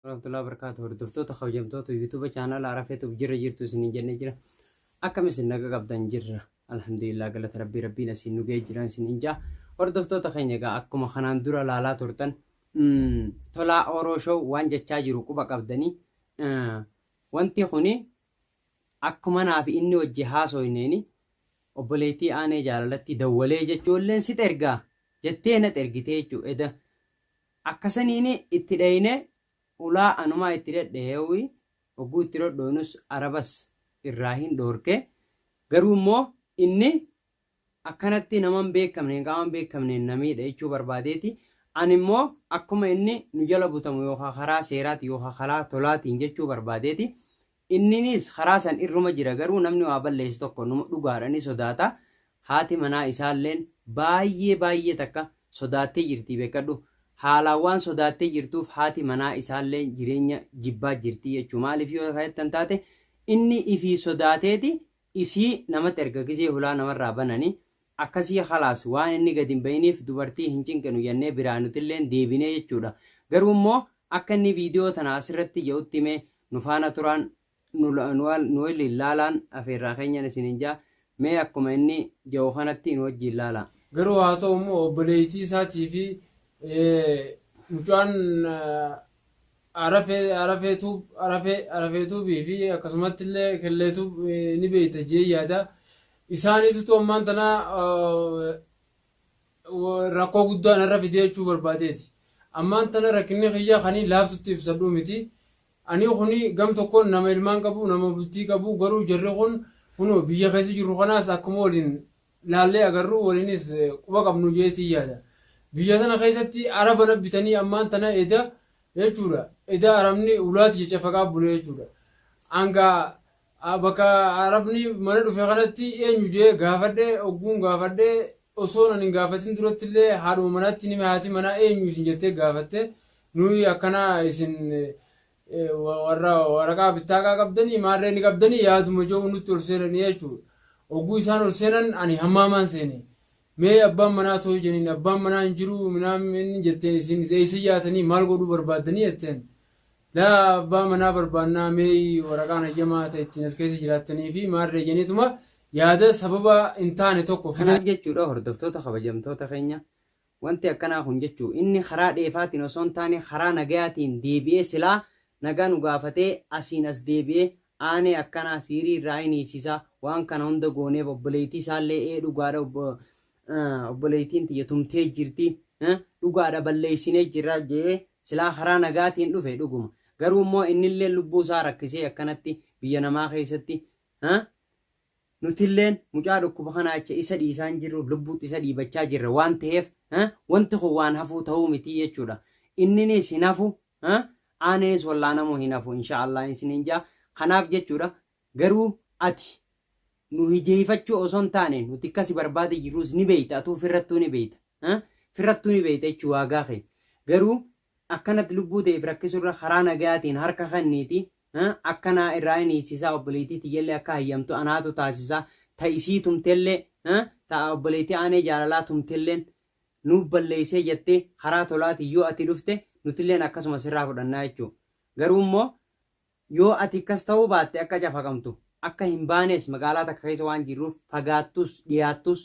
warahmatullahi wabarakatuh hordoftoota kabajamtoota yuutuuba chaanala arafeetuuf jirra jirtu isiniin jennee jira akkam isin naga qabdan jirra alhamdulillah galata rabbii rabbiin asiin nu ga'ee jiran isin injaa hordoftoota keenya egaa akkuma kanaan dura laalaa turtan tolaa oroo show waan jechaa jiru quba qabdanii wanti kuni akkuma naaf inni wajji haasoyneeni obboleettii aanee jaalalatti dawwalee jechuulleen sit ergaa jettee nat ergitee jechuu eda Akkasaniini itti d'ayne, ulaa anumaa itti d'ad'aeui, hogguu itti dhodhoonus arabas irraa hin dhoorke, garuu immoo inni, Akkanatti nama hin beekkamneen, qaama hin beekkamneen na miidha jechuu barbaadeeti, ani immoo akkuma inni nu jala butamu yookaa karaa seeraatiin yookaa karaa tolaatiin jechuu barbaadeeti, Inninis karaa san irruma jira garuu namni waa balleesse tokko numa dhugaadha ni sodaata. Haati manaa isaalleen baay'ee baay'ee takka sodaattee jirti beekkadhu. Haalaan waan sodaattee jirtuuf haati manaa isaalleen jireenya jibbaa jirti jechuu maaliif yoo ka jettan taate inni ifii sodaateeti isii namatti erga gizee hulaa namarraa banani akkasii khalaas waan inni gad hin bahiniif dubartii hin cinqinu jennee biraa nutilleen deebinee jechuudha. Garuu immoo akka inni viidiyoo tana asirratti ja'utti mee Nu faana turaan nu nu waliin laalaan afeerraa keenyan isiniin ja'a. Mee akkuma inni ja'u kanatti nu wajjiin laalaa. Garuu haa ta'u immoo obboleeytii isaatii fi mucaan Arafee Arafee Tuub Arafee Arafee Tuubii fi akkasumatti illee Kellee Tuub ni beeyta jee yaada. Isaaniitutu ammaan tana rakkoo guddaa narra fidee jechuu barbaadeeti. Ammaan tana rakkinni kiyya kanii laaftutti ibsadhuu miti. Anii kuni gam tokkoon nama ilmaan qabu, nama bultii qabu garuu jarri kun kunoo biyya keessa jirru kanaas akkuma waliin laallee agarru waliinis quba qabnu jeetii yaada. Biyya tana keessatti araba na bitanii ammaan tana eda jechuudha. Eda arabni ulaati cacafaqaa bule jechuudha. Hanga a Bakka Arabni mana dhufe kanatti eenyu jee gaafadhe ogguun gaafadhe osoon ani hin gaafatin duratti illee haadhuma manaatti nime haati manaa eenyu isin jettee gaafatte nuyi akkana isin eh, wa- warra waraqaa bittaaqaa qabdanii maarree ni qabdanii yaaduma jehu nutti ol seenanii jechuudha. Ogguu isaan ol seenan ani hammaamaan seene. Mee abbaan manaa too jeniin abbaan manaa hin jiru minaan inni jetteen isin eessa yaatanii maal godhuu barbaaddanii jetteen. Laa abbaa manaa barbaannaa meeyi waraqaan hayyamaa ta ittiin as keessa jiraattanii fi maarree janiituma yaada sababa hin taane tokko fidan. Kanaaf jechuudha hordoftoota kabajamtoota keenya wanti akkanaa kun jechuu inni karaa dheefaatiin osoo hin taane karaa nagayaatiin deebi'ee silaa nagaa nu gaafatee asiin as deebi'ee aanee akkanaa siirii irraa hin hiisisaa waan kana hunda gooneef obboleettii isaallee ee dhugaadha obboleeytiin tiyya tumtee jirti dhugaadha balleeysinee jirra jee silaa karaa nagaatiin dhufe dhuguma garuu immoo innillee lubbuu isaa rakkisee akkanatti biyya namaa keessatti nutilleen mucaa dhukkuba kanaa jecha isa dhiisaan jirru lubbuutti isa dhiibachaa jirra waan ta'eef wanti kun waan hafuu ta'uu miti jechuudha inninis hin hafu aaninis wallaanamuu hin hafu inshaallah isiniin jaa kanaaf jechuudha Garuu ati nu hijeeyfachuu osoo hin taane nuti akka si barbaade jirruus ni beeyta atuu firrattuu ni beeyta ha firrattuu ni beeyta jechu waagaa kee garuu akkanatti lubbuu teef rakkisurra karaa nagayaatiin harka kenniiti ha akka naa irraa hin hiisisaa obboleeytii tiyyallee akka hayyamtu anaatu taasisaa ta isii tumtellee ha ta obboleeytii aanee jaalalaa tumtelleen nuuf balleeysee jettee karaa tolaatiin yoo ati dhufte nutilleen akkasuma sirraa fudhannaa jechuu garuu immoo Yoo ati akkas ta'uu baatte akka cafaqamtu, akka hin baanes magaalaa takka keessa waan jirruuf fagaattus dhiyaattus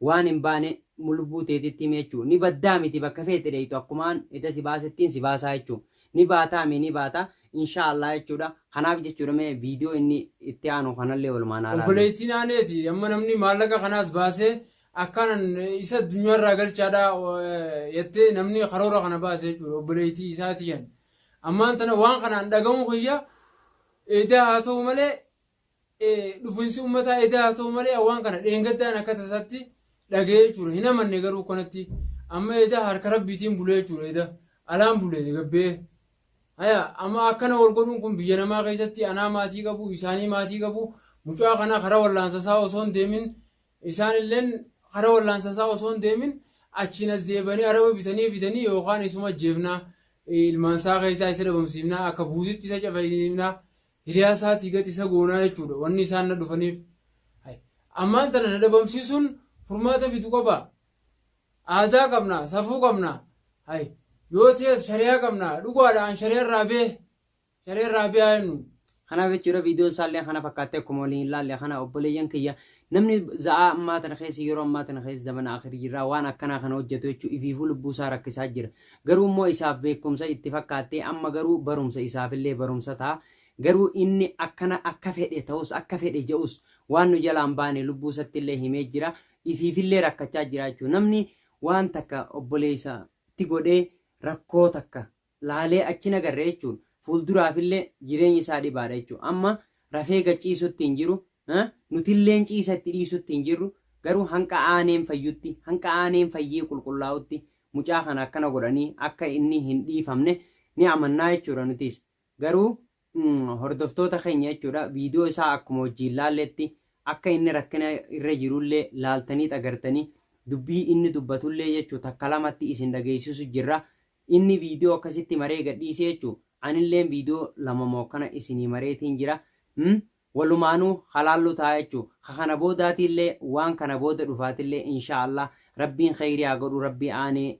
waan hin baane mulubbuu teetitti himi jechuun ni baddaa miti bakka feete dheeyxu akkumaan eda si baasettiin si baasaa jechuun ni baataa mii ni baata inshaa Allah jechuudha kanaaf jechuudha mee video inni itti aanu kanallee walumaan haa laallu. Obboleeytiin aaneeti amma namni maallaqa kanaas baasee akkaanan isa addunyaarraa galchaadha jettee namni karoora kana baase jechuudha obboleeytii isaati jan Ammaan tana waan kanaan dhaga'uun kiyya edaa haa ta'u malee dhufinsi ummataa edaa haa ta'u malee waan kana dheengaddaan akka tasaatti dhaga'ee jechuudha. Hin amanne garuu kanatti amma edaa harka rabbiitiin bulee jechuudha edaa alaan bulee gabbee. Haya amma akkana wal godhuun kun biyya namaa keessatti anaa maatii qabu isaanii maatii qabu mucaa kana karaa wallaansa isaa osoo hin deemin Isaan illeen kara wallaansa isaa osoo hin deemin achiin as deebanii araba bitanii fidanii yookaan isuma ajjeefna, ilmaan isaa keessaa isa dhabamsiifna, akka buutitti isa cafasiifna, hiriyaa isaatii gad isa goona jechuu dha. Wanni isaan na dhufaniif. Hay. Ammaan tana na dhabamsiisuun furmaata fidu qabaa? Aadaa qabna, safuu qabna. Hay. Yoo ta'es shari'aa qabna. Dhugaa dha an shari'aa irraa bee. Sharee Raabiyaa eenyu? Kanaaf jechuudha viidiyoon isaallee kana fakkaattee akkuma waliin ilaalle kana obboleeyyan kiyya namni za'aa ammaa tana keessa yeroo ammaa tana keessa zamana akhirii jirraa waan akkanaa kana hojjetu jechuun ifiifuu lubbuu isaa rakkisaa jira. Garuu immoo isaaf beekumsa itti fakkaattee amma garuu barumsa isaafillee barumsa ta'a. Garuu inni akkana akka fedhe ta'us akka fedhe ja'us waan nu jalaan baane lubbuu isatti illee himee jira. Ifiifillee rakkachaa jira jechuudha. Namni waan takka obboleessatti godhee rakkoo takka laalee achi hin agarre jechuun fuulduraafillee jireenyi isaa dhibaadha jechuudha. Amma rafee gad ciisutti hin jiru, nutilleen ciisa itti dhiisutti hin jirru, garuu hanqa aaneen fayyutti, hanqa aaneen fayyee qulqullaa'utti mucaa kana akkana godhanii akka inni hin dhiifamne ni amannaa jechuudha nutis. Garuu hordoftoota keenya jechuudha viidiyoo isaa akkuma wajjiin laalletti akka inni rakkina irra jirullee laaltanii agartanii dubbii inni dubbatullee jechuu takka lamatti isin dhageessisu jirra inni viidiyoo akkasitti maree gadhiisee jechuu anilleen viidiyoo lama moo kana isinii mareetiin jira Mm, walumaanuu halaallu ta'a jechuu ka kana boodaatiillee waan kana booda dhufaatillee inshaallah rabbiin kheyrii haa godhu rabbii aanee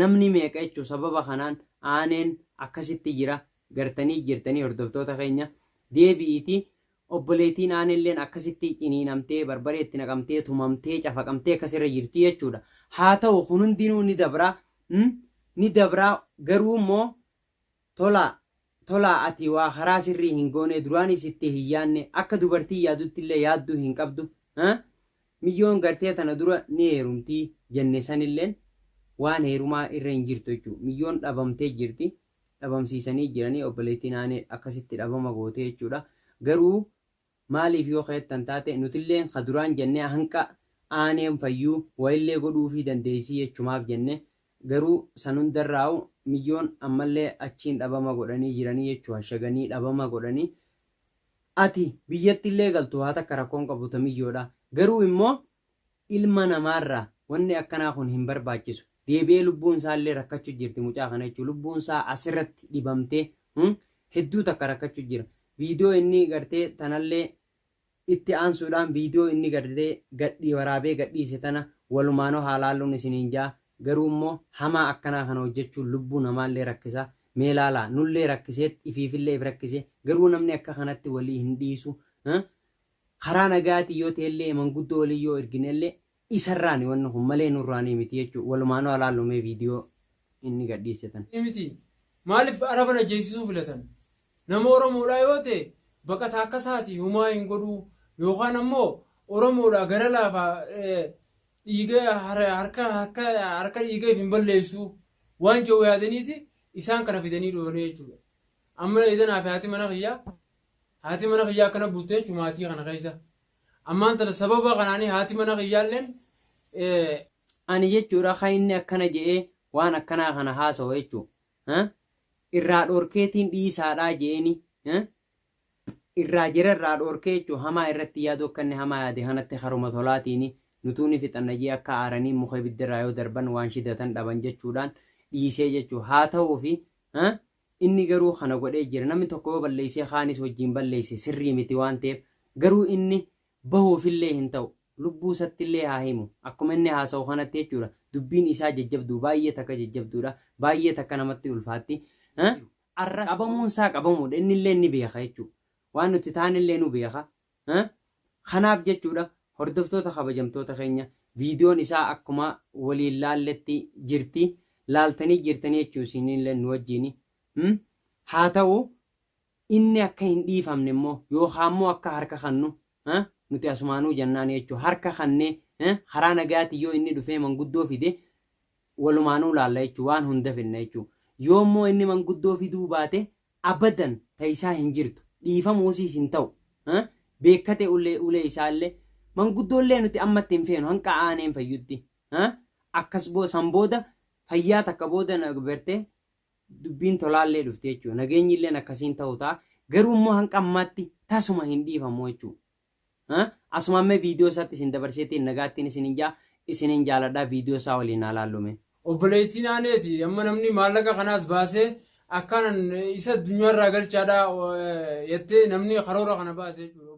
Namni meeqa jechu sababa kanaan aaneen akkasitti jira gartanii jirtanii hordoftoota keenya deebi'iiti obboleetiin aanelleen akkasitti ciniinamtee barbaree itti naqamtee tumamtee cafaqamtee akkas irra jirtii jechuudha haa ta'u kun hundinuu ni dabraa ni dabraa garuu immoo Tolaa! Tolaa! Ati waa karaa sirrii hin goonee duraanii sitti hin yaadne akka dubartiin yaaduttillee yaadduu hin qabdu haa? Miyyoon gartee tana dura ni heerumti jenne sanilleen waan heerumaa irra hin jirtu jechuu miyyoon dhabamtee jirti dhabamsiisanii jiranii obboleettiin Aanee akkasitti dhabama gootee jechuudha garuu Maaliif yoo ka'ettan taate nutilleen ka duraan jannee hanqa aaneen fayyuu wayillee godhuufii dandeessii jechumaaf jenne garuu san hundarraa'u miyyoon ammallee achiin dhabama godhanii jiranii jechuu hashaganii dhabama godhanii ati biyyattillee galtu waa takka rakkoon qabu ta miyyoodha garuu immoo Ilma namaarra wanni akkanaa kun hin barbaachisu. Deebi'ee lubbuun isaallee rakkachu jirti mucaa kana jechuun lubbuun isaa asirratti dhibamtee hedduu takka rakkachu jira. Viidiyoo inni gartee tanallee itti aansuudhaan viidiyoo inni gartee gadhii waraabee gadhiise tana walumaanoo haa laalluun isiniin ja'a. Garuu immoo hamaa akkanaa kana hojjachuun lubbuu namaallee rakkisa. Mee laalaa nullee rakkiseet ifiifillee if rakkise garuu namni akka kanatti walii hin dhiisu. Karaa nagayaatiin yoo ta'ellee manguddoo waliin yoo ergineellee isarraani wanni kun malee nurraanii miti jechuun walumaanuu haa laallu mee video inni gad dhiisse tan. miti. Maaliif Araban ajjeesisuu filatan? Nama Oromoodhaa yoo ta'e baqataa akka isaati humaa hin godhuu yookaan ammoo Oromoodhaa gara laafa dhiiga harka harka dhiiga if hin balleessuu waan jedhu yaadaniiti isaan kana fidanii dhufanii jechuudha. Amma eedan hafi haati mana kiyyaa Haati mana kiyyaa akkana bultee jechuun maatii kana keessa. Ammaan tana sababa kanaanii haati mana kiyyaalleen ani jechuudha kan inni akkana je'ee waan akkanaa kana haasawa jechuu irraa dhorkeetiin dhiisaadhaa je'eeni irraa jira irraa dhorkee jechuu hamaa irratti yaaduu akka inni hamaa yaade kanatti haruma tolaatiini nutuu ni fixanna jee akka aaranii muka ibiddarraa yoo darban waan shidatan dhaban jechuudhaan dhiisee jechuu haa ta'uufi Inni garuu kana godhee jira. Namni tokko yoo balleessee kaanis wajjiin balleesse sirrii miti waan ta'eef garuu inni bahuuf illee hin ta'u. Lubbuu isatti illee haa himu. Akkuma inni haasa'u kanatti jechuudha. Dubbiin isaa jajjabduu baay'ee takka jajjabduudha. Baay'ee takka namatti ulfaatti. Arras qabamuun isaa qabamuudha. Inni illee ni beeka jechuudha. Waan nuti taane illee nu beeka. Kanaaf jechuudha hordoftoota kabajamtoota keenya viidiyoon isaa akkuma waliin laalletti jirti laaltanii jirtanii jechuun isinillee nu wajjin haa ta'u inni akka hin dhiifamne immoo yookaan immoo akka harka kannu nuti asumaanuu jennaan jechuun harka kannee karaa nagaatiin yoo inni dhufee manguddoo fide walumaanuu laalla jechuun waan hunda fidna jechuun yoo immoo inni manguddoo fiduu baate Abadan ta isaa hin jirtu dhiifamuusiis hin ta'u ha beekkate ulee ulee isaalle manguddoollee nuti ammatti hin feenu hanqa aaneen fayyutti ha akkas bo san booda fayyaa takka booda na berte dubbiin tolaallee dhufti jechuu nageenyilleen akkasiin ta'u ta'a garuu immoo hanqa ammaatti tasuma hin dhiifamu jechuu Asumaan mee viidiyoo isaatti isin dabarseetiin nagaattiin isinin jaa isinin jaaladha viidiyoo isaa waliin haa laallu mee. Obboleettiin aaneeti amma namni maallaqa kanaas baasee akkaanan isa addunyaarraa galchaadha jettee namni karoora kana baase jechuudha.